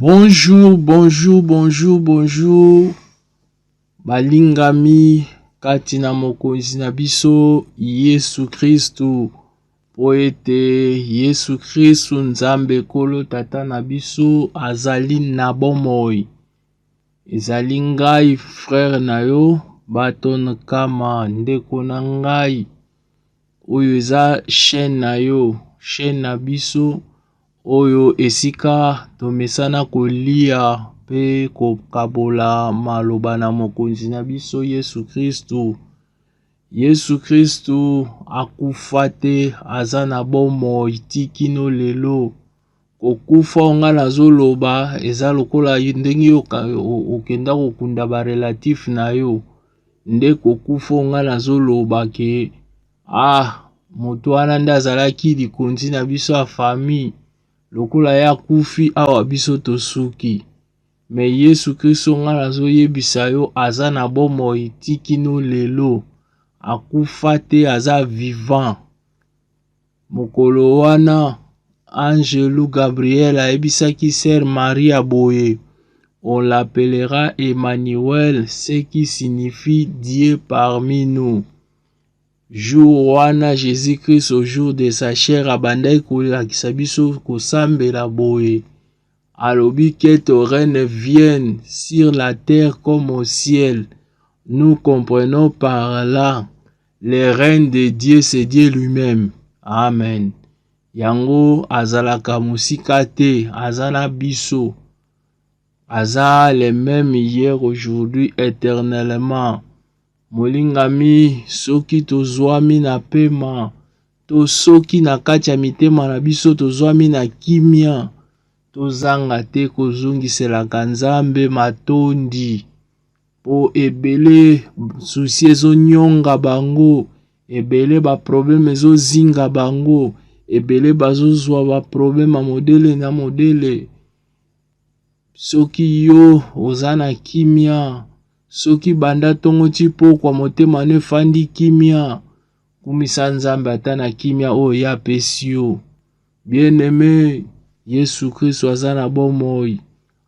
Bonjour, bonjour, bonjour, bonjour. Balingami kati na Mokonzi na biso Yesu Kristu, mpo ete Yesu Kristu Nzambe Nkolo Tata na biso azali na bomoi. Ezali ngai frere na yo Baton Kama, ndeko na ngai. Oyo eza chaîne na yo, chaîne na biso. Oyo esika tomesana kolia mpe kokabola maloba na Mokonzi na biso Yesu Kristu. Yesu Kristu akufa te, aza na bomoi ti kino lelo. Kokufa oyo ngai nazoloba eza lokola ndenge okenda kokunda barelatif na yo nde kokufa oyo ngai nazoloba ke Ah, moto wana nde azalaki likonzi na biso ya famille. Lokola ye akufi, awa biso tosuki. Me Yesu Kristo nga nazoyebisa yo, aza na bomoi ti kino lelo. Akufa te, aza vivant. Mokolo wana angelu Gabriel ayebisaki Sœur Maria boye, on l'appellera Emmanuel, ce qui signifie Dieu parmi nous. Jour wana Jesus Christ au jour de sa chair abandaki kolakisa biso kosambela boye alobi que ton règne vienne sur la terre comme au ciel nous comprenons par là le règne de Dieu c'est Dieu lui-même amen yango azalaka mosika te aza na biso aza le même hier aujourd'hui éternellement Molingami, soki tozwami na pema, to soki na kati ya mitema na biso tozwami na kimia, tozanga te kozongiselaka Nzambe matondi mpo ebele susi ezonyonga bango, ebele baprobleme ezozinga bango, ebele bazozwa baprobleme ya modele na modele. Soki yo oza na kimia, Soki banda ntongo ti pokwa motema no efandi kimia, kumisa Nzambe ata na kimia oyo ye apesi yo. Bien-aime, Yesu Kristo aza na bomoi,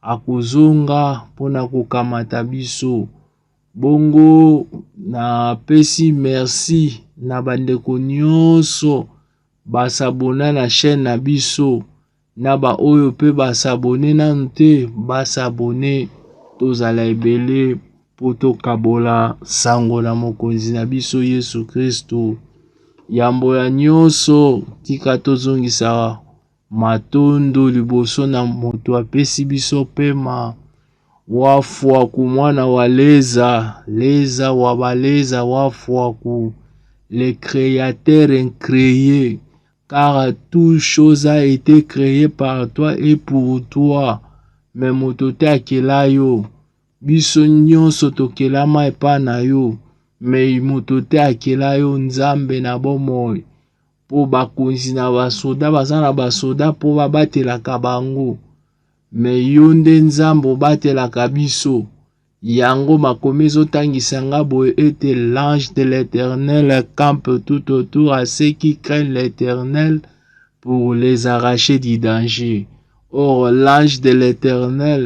akozonga mpo na kokamata biso. Bongo napesi merci na bandeko nyonso basabona na chaîne na biso. Na ba oyo pe ba s'abonner nanu te ba s'abonner tozala ebele po tokabola sango na mokonzi na biso Yesu Kristu. Yambo ya nionso tika tozongisa matondo liboso na moto apesi biso pema wafuaku mwana wa leza leza wa baleza wafuaku le createur increye Car tout chose a ete cree par toi et pour toi, me moto te akela yo. Biso nyonso tokelama epa na yo, me moto te akela yo Nzambe na bomoi. Mpo bakonzi na basoda baza na basoda mpo babatelaka bango, me yo nde Nzambe obatelaka biso. Yango makomi ezotangisa nga boye ete l'ange de l'Eternel campe tout autour à ceux qui craignent l'Eternel pour les arracher du danger. Or l'ange de l'Eternel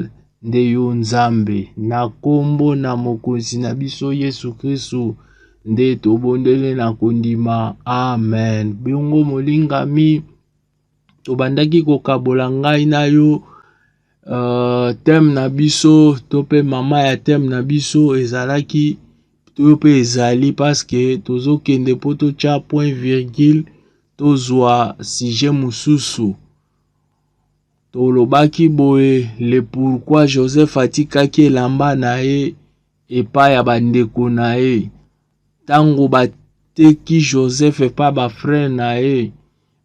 nde yo Nzambe na kombo na mokonzi na biso Yesu Kristu nde tobondele na kondima. Amen. Bongo molingami obandaki kokabola ngai na yo uh, teme na biso to mpe mama ya teme na biso ezalaki to mpe ezali paske tozokende mpo totya point virgule tozwa sujet mosusu tolobaki boye le pourkui joseph atikaki elamba na ye epai ya bandeko na ye ntango bateki joseph epai bafrere na ye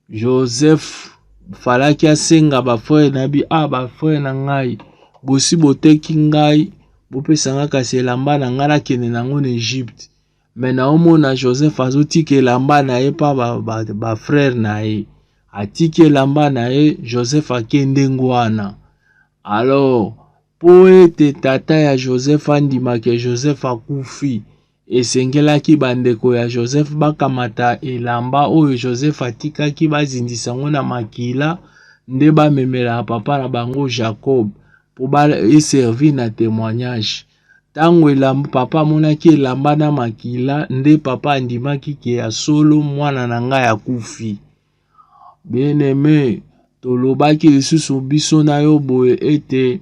Joseph falaki asenga ba frère na bi ah ba frère na ngai bosi boteki ngai bopesa ngai kasi elamba na ngai nakende na yango na Egypte mais naomona Joseph azotika elamba na ye pa ba, ba, ba frère na ye atiki elamba na ye Joseph akende ngwana alors mpo ete tata ya Joseph andima ke Joseph akufi Esengelaki bandeko ya Joseph bakamata elamba oyo Joseph atikaki bazindisa yango na makila nde bamemela papa na bango Jacob mpo eservi na temoignage. Ntango elamba papa amonaki elamba na makila nde papa andimaki ke ya solo mwana na ngai akufi. Bien aime, tolobaki lisusu biso na yo boye ete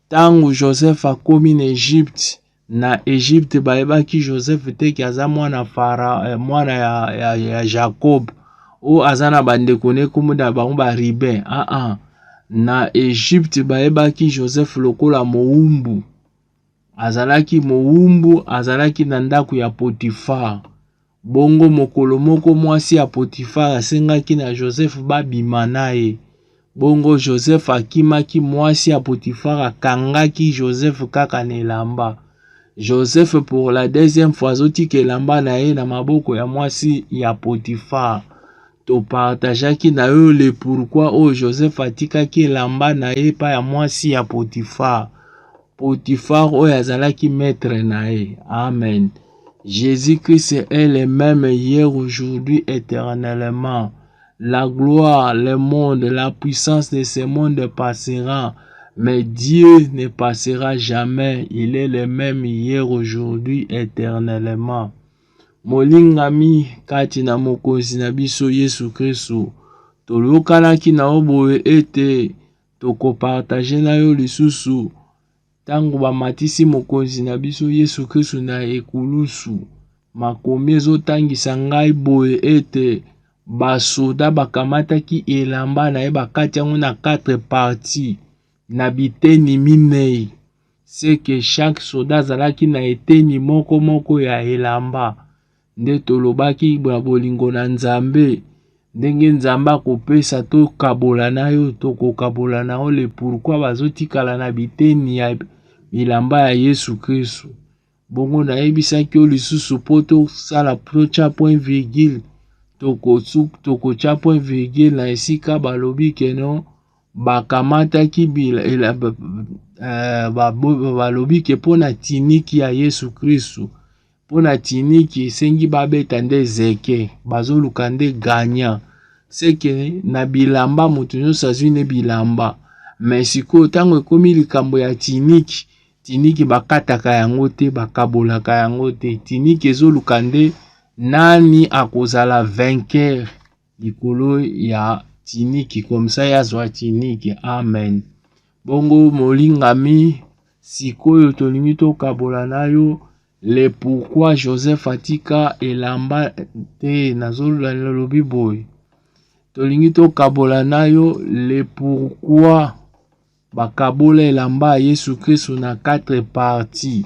ntango Joseph akomi na Egypte na Egypte bayebaki Joseph te ki aza mwana fara eh, mwana ya, ya, ya Jacob o aza na bandeko ne kombo na bango ba Ruben ah ah na Egypte bayebaki Joseph lokola mowumbu azalaki mowumbu azalaki na ndako ya Potifar Bongo mokolo moko mwasi ya Potifare asengaki na Joseph babima na ye. Bongo Joseph akimaki, mwasi ya Potifare akangaki Joseph kaka na elamba. Joseph pour la deuxième fois azotika elamba na ye na maboko ya mwasi ya Potifare. Topartajaki na yo le pourquoi oyo Joseph atikaki elamba na ye epai ya mwasi ya Potifare. Potiphar oyo azalaki maître na ye. Amen. Jésus-Christ est le même hier, aujourd'hui, éternellement. La gloire, le monde, la puissance de ce monde passera, mais Dieu ne passera jamais. Il est le même hier, aujourd'hui, éternellement. Molingami kati na Mokonzi na biso Yesu Kristo, toyokanaki na yo boye ete Toko partager na yo lisusu ntango bamatisi mokonzi na biso Yesu Kristu na ekulusu. Makomi ezotangisa ngai boye ete basoda bakamataki elamba na ye bakati yango na 4 parti na biteni minei seke chaque soda azalaki na eteni moko moko ya elamba nde tolobaki na bolingo na Nzambe ndenge Nzambe akopesa tokabola na yo tokokabola na yo le pourquoi bazotikala na biteni ya bilamba ya Yesu Kristu bongo nayebisaki yo lisusu mpo tosala totya point virgule tokotya point virgule na esika balobi keno bakamataki balobi ke mpo na tiniki ya Yesu Kristu pona tiniki esengi babeta nde zeke bazoluka nde gagnant seke na bilamba moto nyonso azwi nde bilamba mais sikoyo ntango ekomi likambo ya tiniki tiniki bakataka yango te bakabolaka yango te tiniki ezoluka nde nani akozala vainqueur likolo ya tiniki komsa ye azwa tiniki amen bongo molingami sikoyo tolingi tokabola na yo le pourquoi joseph atika elamba te nazolobi boye tolingi tokabola na yo le pourquoi bakabola elamba ya yesu kristo na 4 partie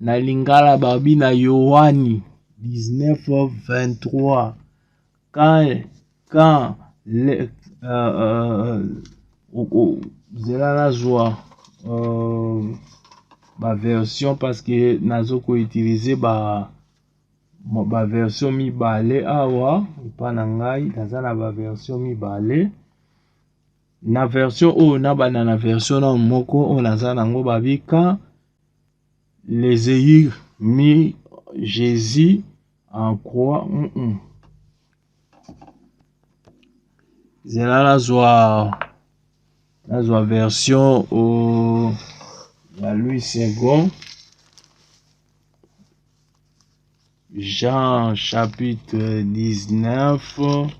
na lingala babi na yoani 1923 quand quand le, uh, uh, uh, uh, zela nazwa uh, baversion parce que nazo koutilize ba baversion mibale awa epa na ngai naza na baversion mibale na version oyo nabanda na version na moko oyo naza nango babika les ayur mis Jésus en croix. Mm -mm. zela nazwa nazwa version o ya louis second jean chapitre 19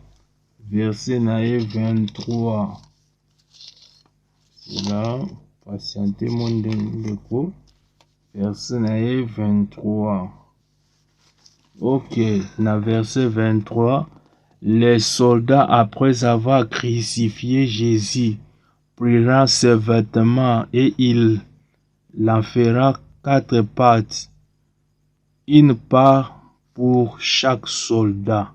verset na ye 23 na patiente mo ndeko verse na ye 23 ok na verse 23 les soldats après avoir crucifié jésus prirent ses vêtements et il l'enferra quatre pattes une part pour chaque soldat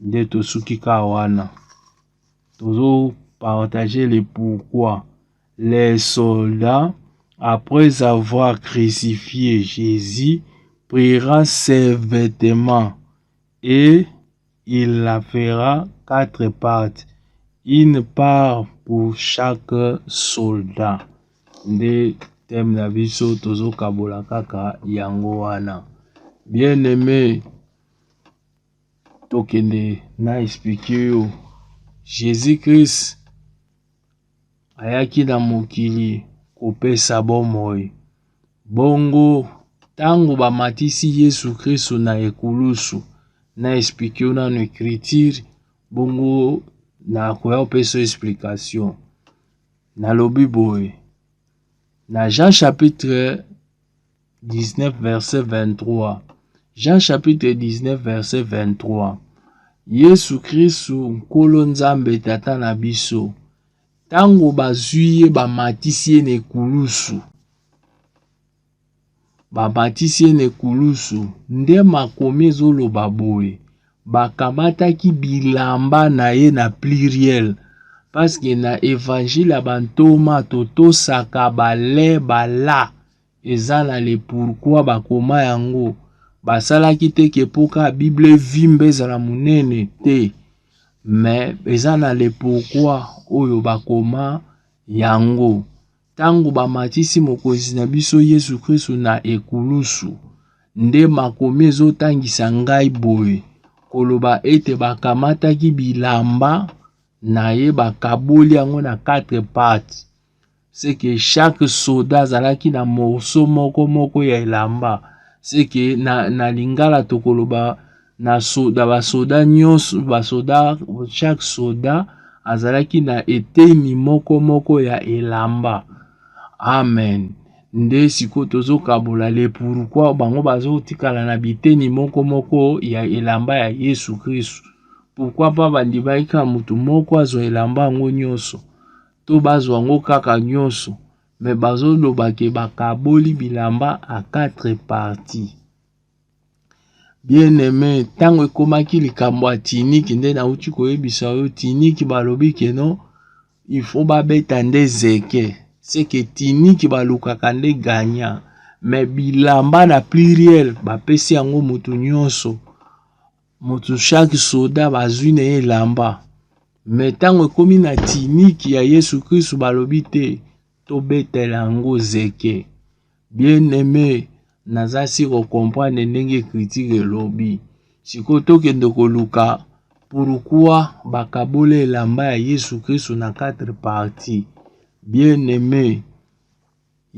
nde tosuki kaka wana tozo partage le pourquoi les soldats après avoir crucifié jésus priera ses vêtements et il la fera quatre parts une part pour chaque soldat nde teme na biso tozokabola kaka yango wana bien aimé tokende na explike yo jesus christ ayaki na mokili kopesa bomoi bongo ntango bamatisi yesu kristu na ekulusu na explike yo nano ecriture bongo nakoya kopesa explication nalobi boye na jean chapitre 19 verset 23 Jean chapitre 19 verset 23 Yesu Kristu Nkolo Nzambe Tata na biso ntango bazwi ye bamatisi ye na ekulusu bamatisi ye na ekulusu nde makomi ezoloba boye bakamataki bilamba na ye na pluriel paske na evangile ya bantoma totosaka bale bala eza na le pourquoi bakoma yango basalaki te ke mpo kaka bible evimba ezala monene te me eza na le pourquoi oyo bakoma yango ntango bamatisi mokonzi na biso yesu kristu na ekulusu nde makomi ezotangisa ngai boye koloba ete bakamataki bilamba na ye bakaboli yango na 4 parti c'est que chaque soda azalaki na morceau moko moko ya elamba c'est que na, na lingala tokoloba na soda basoda nyonso basoda chaque soda azalaki na eteni moko moko ya elamba amen nde sikoyo tozokabola le pourkui bango bazotikala na biteni moko moko ya elamba ya yesu kristu pourkui mpa bandimaki kaka moto moko azwa elamba yango nyonso to bazwa ngo kaka nyoso mais bazo loba ke bakaboli bilamba a quatre parties bien aime ntango ekomaki likambo ya tiniki nde nauti koyebisa yo tiniki balobi ke no il faut babeta nde zeke seke tiniki balukaka nde gagnant mais bilamba na pluriel bapesi yango moto nyonso moto chaque soda bazwi na ye elamba me ntango ekomi na tiniki ya yesu kristu balobi te tobetela yango zeke bien aime naza si kocomprendre ndenge kritike elobi sikoyo tokende koluka pourkua bakabola elamba ya yesu kristu na 4 parti bien aime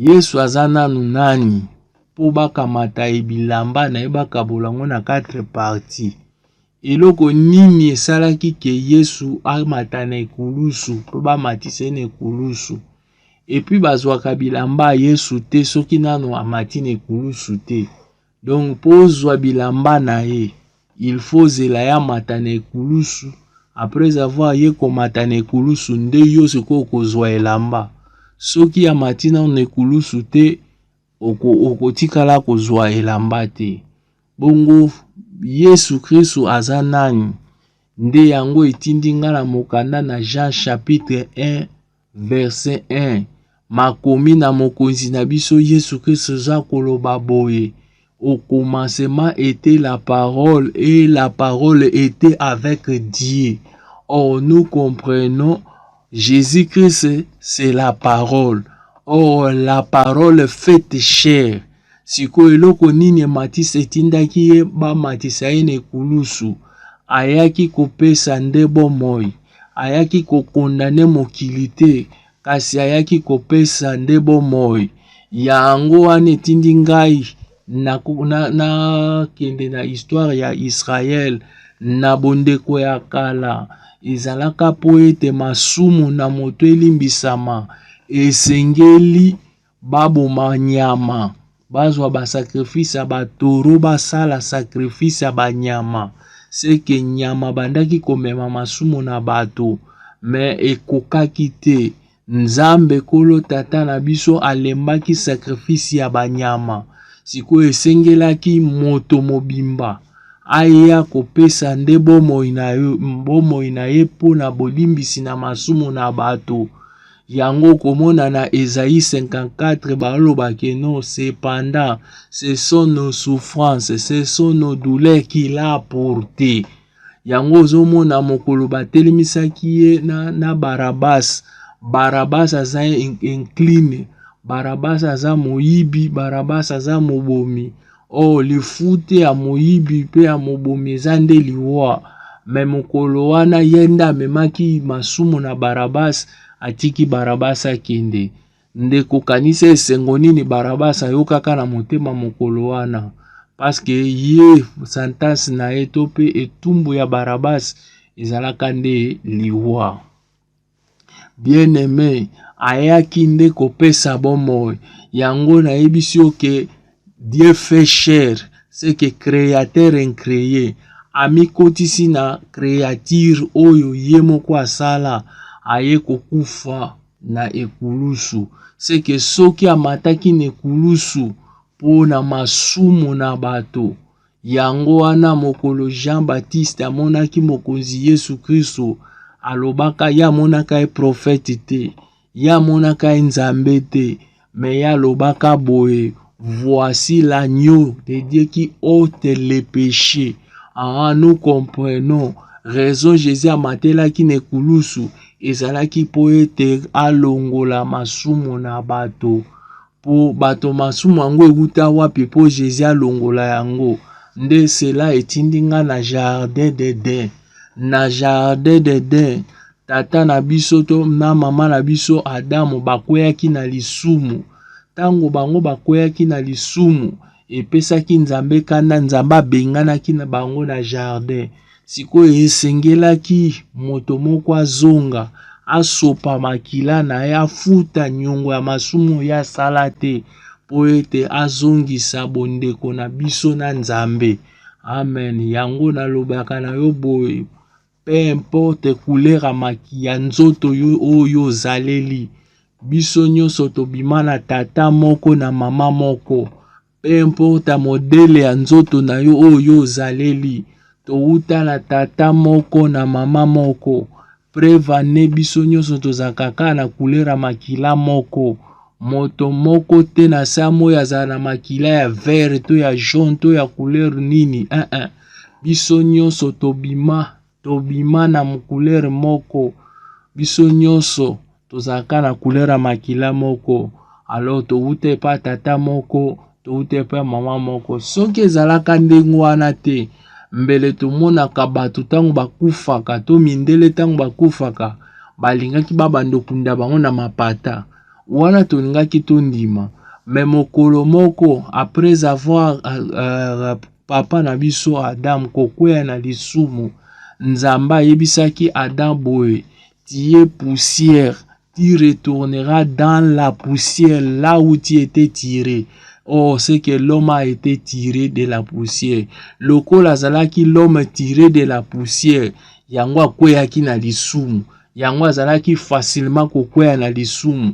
Yesu aza nanu nani po bakamata ye bilamba na ye bakabola yango na quatre parti? Eloko nini esalaki ke Yesu amata na ekulusu po bamatisa ye na ekulusu? Epuis bazwaka bilamba ya Yesu te soki nanu amati na ekulusu te. Donc po ozwa bilamba na ye il faut ozela ya mata na ekulusu après avoir ye komata na ekulusu nde yo sikoyo okozwa elamba soki amati nano na ekulusu te okotikala oko kozwa elamba te bongo yesu kristu aza nani nde yango etindi ngai na mokanda na jean chapitre 1 Verse 1 Makomi na Mokonzi na biso Yesu Kristo eza koloba boye Au commencement était la parole et la parole était avec Dieu. Or nous comprenons Jésus-Christ c'est la parole. Or la parole faite chair Sikoyo eloko nini ematisa etindaki ye bamatisa ye na ekulusu? Ayaki kopesa nde bomoi, ayaki kokondane mokili te, kasi ayaki kopesa nde bomoi. Yango wana etindi ngai nakende na, na, na histoire ya Israele na bondeko ya kala ezalaka mpo ete masumu na moto elimbisama esengeli baboma nyama bazwa basacrifice ya batoro basala sacrifice ya banyama seke nyama bandaki komema masumu na bato me ekokaki te nzambe kolo tata na biso alembaki sacrifice ya banyama sikoyo esengelaki moto mobimba aya kopesa nde bomoi na ye mpo na bolimbisi na masumu na bato Yango okomona na Esaïe 54 baloba que non, cependant ce sont nos souffrances, ce sont nos douleurs qu'il a portées. Yango ozomona mokolo batelemisaki ye na, na Barabas. Barabas aza incline, Barabas aza moyibi, Barabas aza mobomi. Oh, lifute ya moyibi mpe ya mobomi eza nde liwa. Me mokolo wana ye nde amemaki masumu na Barabas, atiki Barabas akende. Ndeko, kanisa esengo nini Barabas ayokaka na motema mokolo wana, paske ye sentence na ye to mpe etumbu ya Barabas ezalaka nde liwa. Bien aime ayaki nde kopesa bomoi yango nayebisi yo ke Dieu fait chair ce que createur incree amikotisi na creature oyo ye moko asala aye kokufa na ekulusu ce que soki amataki na ekulusu mpo na masumu na bato Yango wana, mokolo Jean Baptiste amonaki Mokonzi Yesu Kristo, alobaka ye amonaka ye profete te, ye amonaka ye Nzambe te, me ye alobaka boye voici l'agneau de Dieu qui ôte le péché. Ah, nous comprenons raison Jésus amatelaki na ekulusu ezalaki mpo ete alongola masumu na bato. Po bato masumu yango ewuta wapi po Jesus alongola yango nde cela etindi nga na jardin d'Eden na jardin d'Eden tata na biso to na mama na biso Adamu bakweyaki na lisumu ntango bango bakweyaki na lisumu epesaki Nzambe kanda Nzambe abenganaki na bango na jardin Sikoyo esengelaki moto moko azonga, asopa makila na ye, afuta nyongo ya masumu oyo asala te, mpo ete azongisa bondeko na biso na Nzambe. Amen. Yango nalobaka na yo boye, pe importe kulera maki ya nzoto yo oyo ozaleli, biso nyonso tobima na tata moko na mama moko. Peu importe modele ya nzoto na yo oyo yo ozaleli, towuta na tata moko na mama moko. Preuve en est biso nyonso tozalaka kaka na couleur ya makila moko. Moto moko te na se ya moi azala na makila ya vert to ya jaune to ya couleur nini eh eh. Biso nyonso tobima Tobima na couleur moko. Biso nyonso tozalaka na couleur ya makila moko. Alors towuta epa tata moko, towuta epa mama moko. Soki ezalaka ndenge wana te, mbele tomonaka bato ntango bakufaka to mindele ntango bakufaka balingaki babanda okunda bango na mapata. Wana tolingaki tondima. Mais mokolo moko, après avoir euh, euh, Papa na biso Adam kokwea na lisumu, Nzambe ayebisaki Adam boye, tu es poussière, tu retourneras dans la poussière là où tu étais tiré. Oh, c'est que l'homme a été tiré de la poussière. Lokola azalaki l'homme tiré de la poussière, yango akweaki na lisumu. Yango azalaki facilement kokwea na lisumu.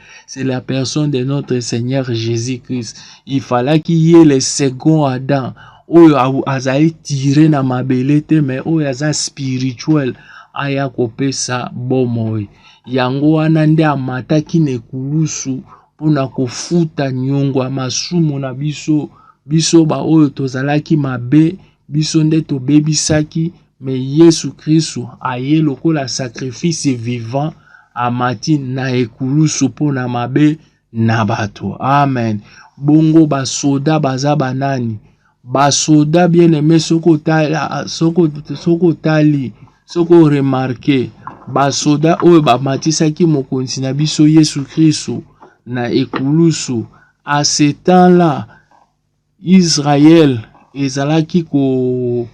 c'est la personne de notre Seigneur Jésus-Christ. Il fallait qu'il y ait le second Adam. oyo azali tire na mabele te me oyo aza spirituel aya kopesa bomoi yango wana nde amataki na ekulusu mpo na kofuta nyongo ya masumu na biso biso baoyo tozalaki mabe biso nde tobebisaki Mais Yesu Kristu aye lokola sacrifice vivant amati na ekulusu mpo na mabe na bato. Amen. Bongo basoda baza banani? Basoda bien aime, soki otali soki oremarke basoda oyo bamatisaki mokonzi na biso Yesu Kristu na ekulusu a ce temps-là Israël ezalaki ko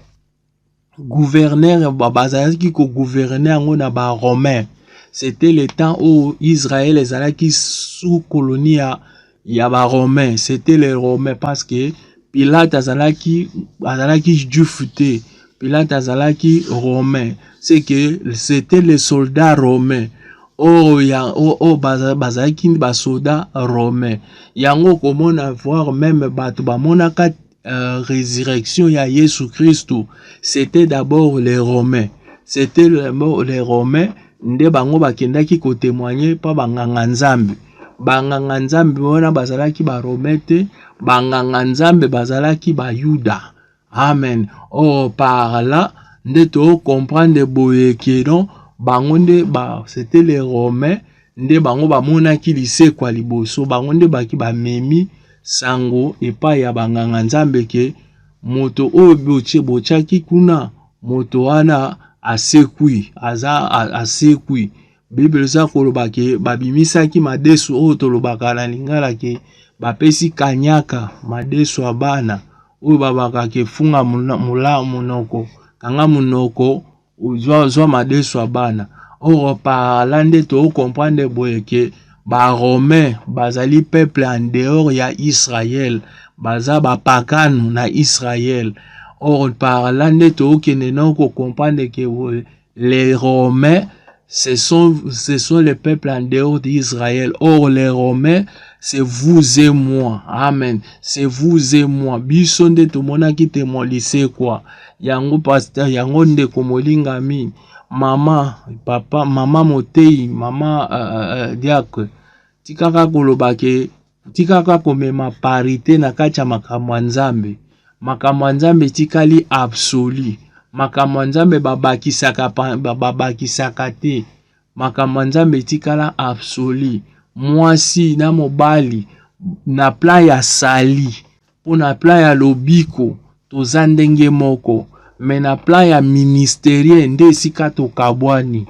gouverneur bazalaki ko gouverner yango na ba romain c'était le temps oyo israel ezalaki sous colonie ya ya ba romain c'était le romain parce que pilate azalaki azalaki juif te pilate azalaki romain c'est que c'était le soldat romain oyo oh, ya oyo oh, oh, bazalaki basoda romain yango okomona voir meme bato bamonaka euh, résurrection ya Yesu Kristo, c'était d'abord les Romains. C'était les Romains nde bango bakendaki kotemoigne mpo banganga nzambe banganga nzambe wana bazalaki barome te banganga nzambe bazalaki bayuda amen or par là nde tokomprendre boye ke non bango nde ba c'était les romains nde bango bamonaki lisekwa liboso bango nde baki bamemi sango epai ya banganga nzambe ke moto oyo botie botiaki kuna moto wana asekwi aza asekwi biblia eza koloba ke babimisaki madesu oyo tolobaka na lingala ke bapesi kanyaka madesu ya bana oyo babakaka efunga monoko kanga monoko ozwa ozwa madesu ya bana oro parla nde to comprendre boye ke ba romain bazali peuple en dehors ya Israël baza ba pakano na Israël oro parla nde to kende na ko comprendre ke les romains Ce sont, ce sont les peuples en dehors d'Israël. Or, les Romains, c'est vous et moi. Amen. C'est vous et moi. Biso nde tomonaki te molisekwa. Yango pasteur, yango ndeko molingami. Mama, papa, mama moteyi, mama uh, uh, diacre. Tikaka koloba ke Tikaka komema parite na kati ya makambo ya Nzambe. Makambo ya Nzambe etikali absolu. Makambo ya Nzambe babakisaka, babakisaka te. Makambo ya Nzambe etikala absolu. Mwasi na mobali na plan ya sali mpo na plan ya lobiko toza ndenge moko, me na plan ya ministerie nde esika tokabwani.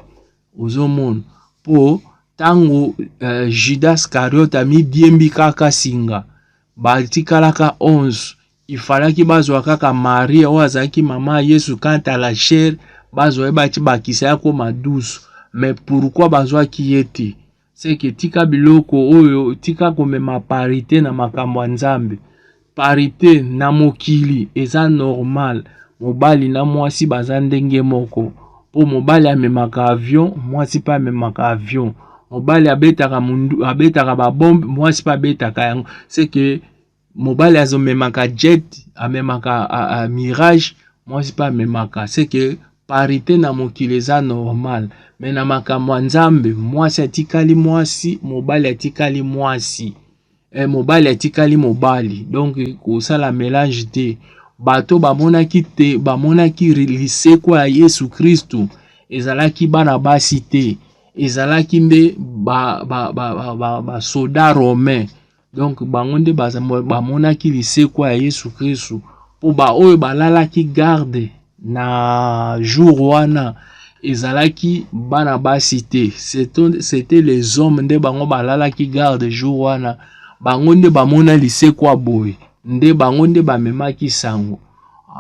Ozo mon po tango uh, Judas Scariot amidiembi kaka singa batikalaka 11 ifalaki bazwa kaka Maria oyo azalaki mama ya Yesu quant à la chair bazwa ye bati bakisa ya koma 12 mais pourquoi bazwaki ye te seke tika biloko oyo tika komema parite na makambo ya nzambe parite na mokili eza normal mobali na mwasi baza ndenge moko mpo mobali amemaka avion mwasi mpe amemaka avion mobali abetaka mundu abetaka babombe mwasi mpe abetaka yango seke mobali azo memaka jet amemaka a, a, mirage mwasi mpe amemaka seke parite na mokili eza normal me na makambo ya nzambe mwasi atikali mwasi mobali atikali mwasi e, mobali atikali mobali donc kosala melange te bato bamonaki te bamonaki lisekwa ya yesu kristu ezalaki bana basi te ezalaki nde basoda ba, ba, ba, ba, ba, romain Donc bango nde bamonaki lisekwa ya Yesu Kristu mpo baoyo balalaki garde na jour wana ezalaki bana basi te, c'était les hommes nde bango balalaki garde jour wana, bango nde bamona lisekwa boye, nde bango nde bamemaki sango.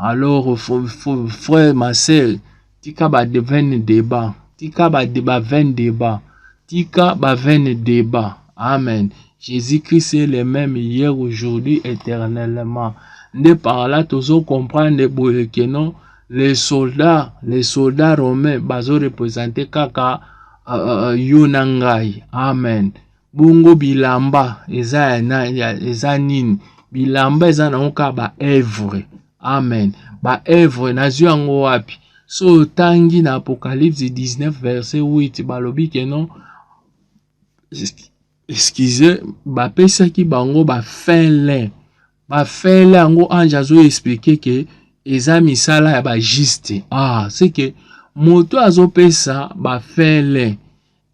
Alors frère ma sœur, tika ba vaine debat tika ba ba vaine debat tika ba vaine debat amen jésus christ est le même hier aujourd'hui éternellement nde par là tozo comprendre boye que non les soldats les soldats romains bazo représenter kaka uh, uh, yo na ngai amen Bongo bilamba eza ya na ya eza nini? Bilamba eza nango kaka ba œuvre. Amen. Ba œuvre nazwi yango wapi? So otangi na Apocalypse 19 verset 8 balobi ke non excuse bapesaki bango ba fin lin ba fin lin yango ange azo explique ke eza misala ya ba juste ah c'est que moto azopesa ba fin lin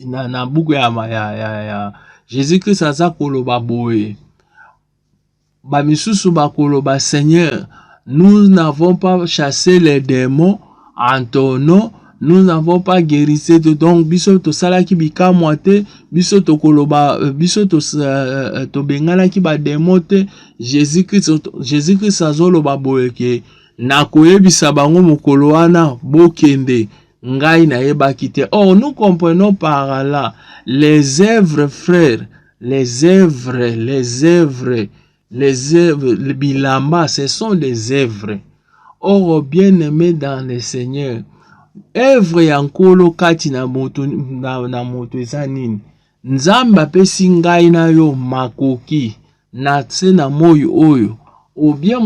na, na buku ya, ya, ya, ya jesus christ aza koloba boye bamisusu bakoloba seigneur nous n'avons pas chassé les démons en ton nom nous n'avons pas guéri te donc biso tosalaki bikamwa te biso tokoloba euh, biso euh, euh, tobenganaki bademo te jésus christ jésus christ azoloba boye ke nakoyebisa bango mokolo wana bokende ngai nayebaki te or nous comprenons par là les œuvres frères les œuvres les œuvres les œuvres le bilamba ce sont des œuvres or bien aimé dans le seigneur œuvre ya nkolo kati na moto na, na moto eza nini Nzambe apesi ngai na yo makoki na se na moi oyo obie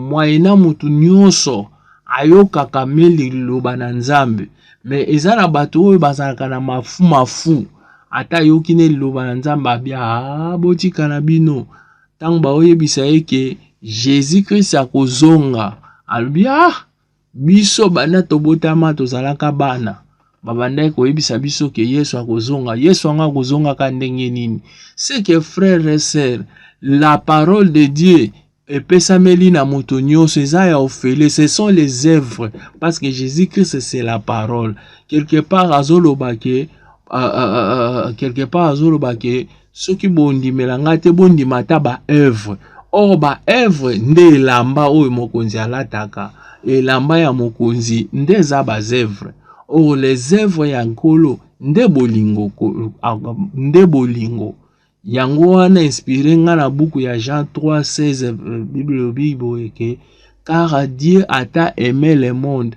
mwaye na moto nyonso ayokaka me liloba na nzambe me eza na bato oyo bazalaka na mafu mafu ata ayoki ne liloba na nzambe abia ah, botika na bino ntango baoyebisa ye ke jesus krist akozonga alobi ah Biso banda tobotama tozalaka bana babandaki koyebisa biso ke Yesu akozonga. Yesu yango akozongaka ndenge nini? C'est que frère et sœur, la parole de Dieu epesameli na moto nyonso eza ya ofele ce sont les œuvres parce que jésus christ c'est la parole quelque part azoloba ke uh, uh, uh, quelque part azoloba ke soki bondimela ngai te bondima ata baoeuvre or baoeuvre nde elamba oyo mokonzi alataka elamba ya mokonzi nde eza baoeuvre or les oeuvre ya nkolo nde bolingo nde bolingo yango wana inspire ngai na buku ya jean 3 16 bible elobi boye ke car dieu ata aime le monde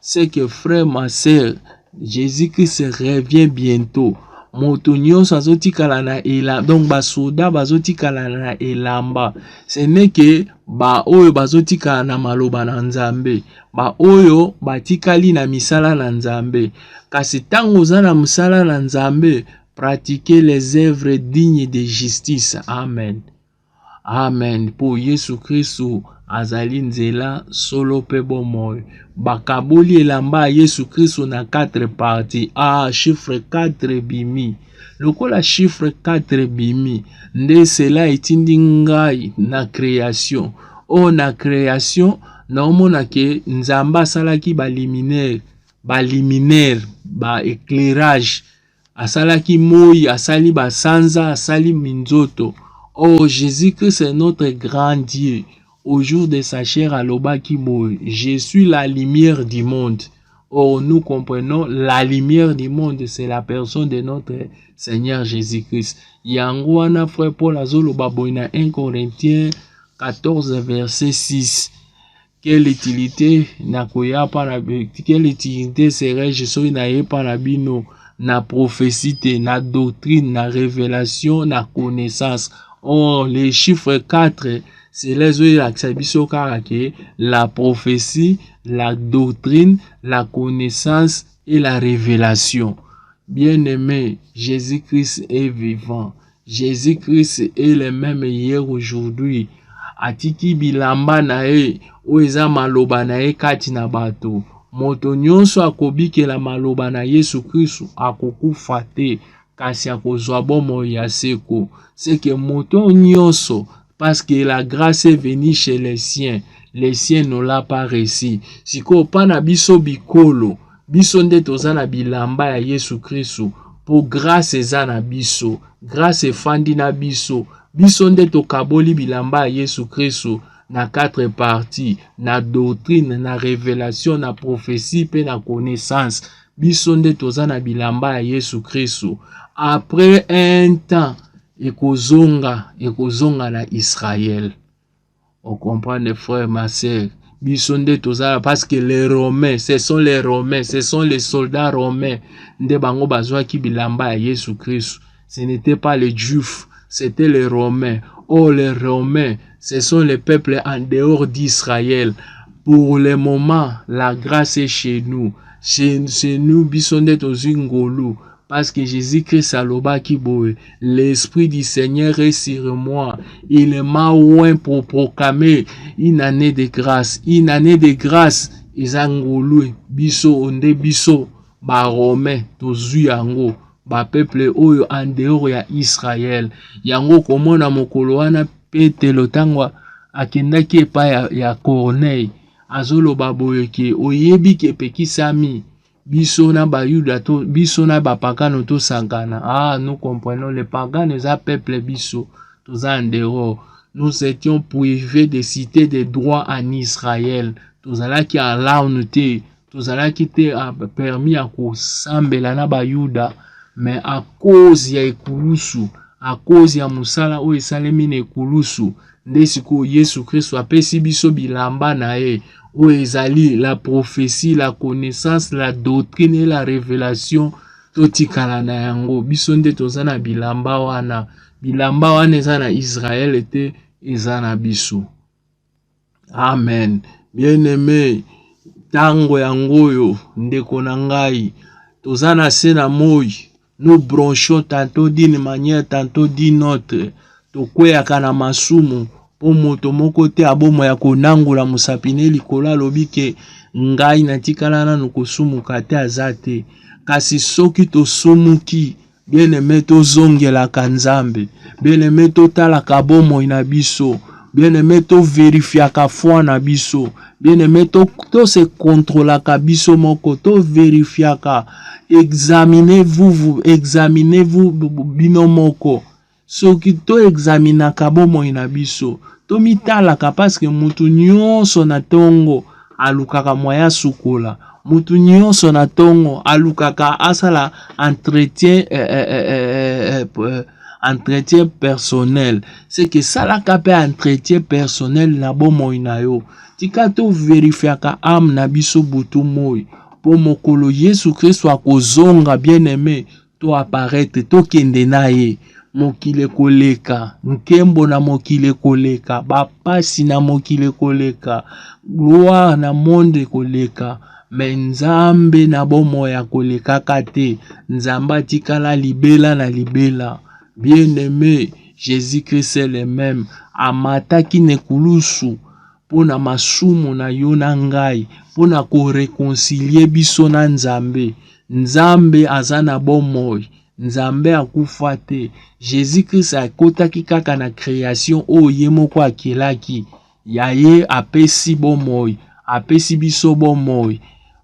C'est que frère, ma sœur, Jésus-Christ revient bientôt. moto nyonso azotikala na elamba donc basoda bazotikala na elamba seneke baoyo bazotikala na maloba na nzambe baoyo batikali na misala na nzambe kasi ntango oza na mosala na nzambe pratiquer les œuvres dignes de justice amen Amen. Mpo Yesu Kristu azali nzela, solo mpe bomoi. Bakaboli elamba ya Yesu Kristu na 4 parti. Ah, chiffre 4 ebimi. Lokola chiffre 4 ebimi, nde cela etindi ngai na creation. O oh, na creation, naomona ke Nzambe asalaki baliminaire, baliminaire, ba éclairage asalaki moi asali basanza asali minzoto oh jésus christ est notre grand dieu au jour de sa chair alobaki boye je suis la lumière du monde oh nous comprenons la lumière du monde c'est la personne de notre seigneur jésus christ yango wana frère paul azoloba boye na 1 corinthiens 14 verset 6 Quelle utilité nakoya pa na quelle utilité serais-je soki naye pa na bino na prophétie te, na doctrine, na révélation, na connaissance. Or, les chiffres 4, cela ezolakisa biso kaka ke la prophétie, la doctrine, la connaissance et la révélation. Bien-aimé, Jésus-Christ est vivant. Jesus Christ est le meme hier aujourd'hui atiki bilamba na ye oyo eza maloba na ye kati na bato moto nyonso akobikela maloba na yesu kristu akokufa te kasi akozwa bomoi ya seko seke moto nyonso parce que la grace est venue chez les siens les siens n'ont l'a pas reçu sikoyo mpa na biso bikolo biso nde toza na bilamba ya yesu kristu mpo grace eza na biso grace efandi na biso biso nde tokaboli bilamba ya yesu kristu na quatre parti na doctrine na revelation na prophetie mpe na connaissance biso nde toza na bilamba ya yesu kristu après un temps ekozonga ekozonga na israel ocomprendre frère ma sœur biso nde tozala parce que les romains ce sont les romains ce sont les soldats romains nde bango bazwaki bilamba ya yesu kristu ce n'était pas les juifs c'était les romains oh les romains ce sont les peuples en dehors d'israël pour le moment la grâce est chez nous chez, chez nous biso nde tozwi ngolu Parce que Jésus-Christ alobaki boye, l'esprit du Seigneur est sur moi. Il m'a oint pour proclamer une année de grâce. Une année de grâce eza ngolue biso onde biso ba romain tozui yango ba peuple oyo en dehors ya Israël. Yango komona mokolo wana Petelo ntango akendaki epai ya, ya Corneille azoloba boye ke oyebi ke epekisami biso na bayuda to biso na bapakano tosangana ah nous comprenons les pagano eza peuple biso toza en dehors nous étions privés de cité de droit en israël tozalaki alaune te tozalaki te ah, permis ya kosambela na bayuda mais à cause ya ekulusu à cause ya mosala oyo esalemi na ekulusu Nde sikoyo Yesu Kristo apesi biso bilamba na ye oyo ezali la prophetie, la connaissance, la doctrine et la revelation. Totikala na yango, biso nde toza na bilamba wana. Bilamba wana eza na Israele te, eza na biso. Amen. Bien aime, ntango yango oyo ndeko na ngai, toza na se na moi nous bronchons tantôt d'une manière tantôt d'une autre tokweyaka na masumu mpo moto moko te abomo ya konangola mosapi ne likolo alobi ke ngai natikala nanu kosumuka te aza te kasi soki tosumuki bien aime tozongelaka nzambe bien aime totalaka bomoi na biso bien aime toverifiaka foi na biso Bien aime to, to se controlaka biso moko to verifiaka examine vous vous examine vous bino moko soki to examinaka bomoi na biso tomitalaka paske mutu nyonso na tongo alukaka moyen asukola mutu nyonso na tongo alukaka asala entretien eh, eh, eh, eh, eh, eh, entretien personnel seke esalaka mpe entretien personnel na bomoi na yo tika toverifiaka ame na biso butu moi mpo mokolo yesu kristo akozonga bien aime to aparete tokende na ye mokili ekoleka nkembo na mokili ekoleka bapasi na mokili ekoleka gloire na monde ekoleka Mais Nzambe na bomoi akolekaka te. Nzambe atikala libela na libela. Bien aime, Jésus Christ est le même. Amataki na ekulusu mpo na masumu na yo na ngai, mpo na korekonsilie biso na Nzambe. Nzambe aza na bomoi. Nzambe akufa te. Jésus Christ akotaki kaka na creation oyo ye moko akelaki. Ya ye apesi bomoi, apesi biso bomoi.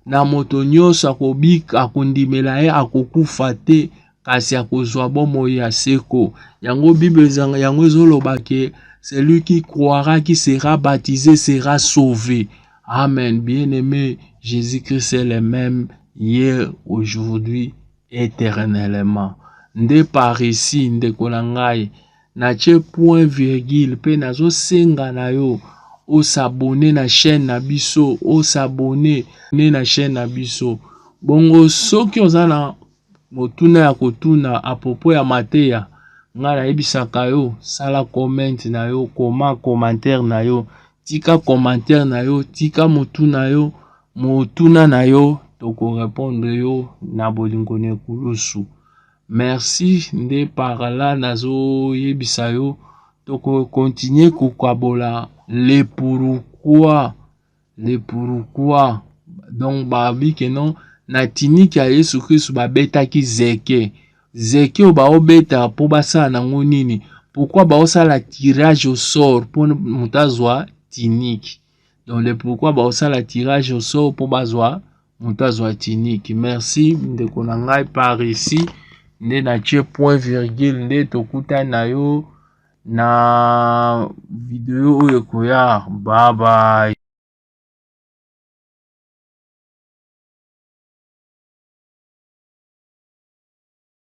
Na moto nyonso akobika, akondimela ye, akokufa te, kasi akozwa bomoi ya seko. Yango Bible ezanga yango ezoloba ke celui qui croira qui sera baptisé sera sauvé. Amen. Bien-aimé, Jésus-Christ est le même hier, aujourd'hui, éternellement. Nde par ici, ndeko na ngai, Natie point virgule pe nazo senga na yo o s'abonner na chaîne na biso, o s'abonner ne na chaîne na biso. Bongo soki oza na motuna ya kotuna à propos ya mateya, nga nayebisaka yo sala comment na yo, koma commentaire na yo, tika commentaire na yo, tika motuna yo, motuna na yo toko répondre yo na bolingo na ekulusu. Merci nde par là nazo yebisa yo toko continuer ko kabola le pourquoi le pourquoi donc ba bi que non na tiniki ya Yesu Kristo babetaki zeke zeke oyo baobeta mpo basala nango nini pourquoi baosala tirage au sort mpo moto azwa tiniki donc le pourquoi baosala tirage au sort mpo bazwa moto azwa tunique merci ndeko na ngai par ici nde natie point virgule nde tokutani na yo na video oyo ekoya babaye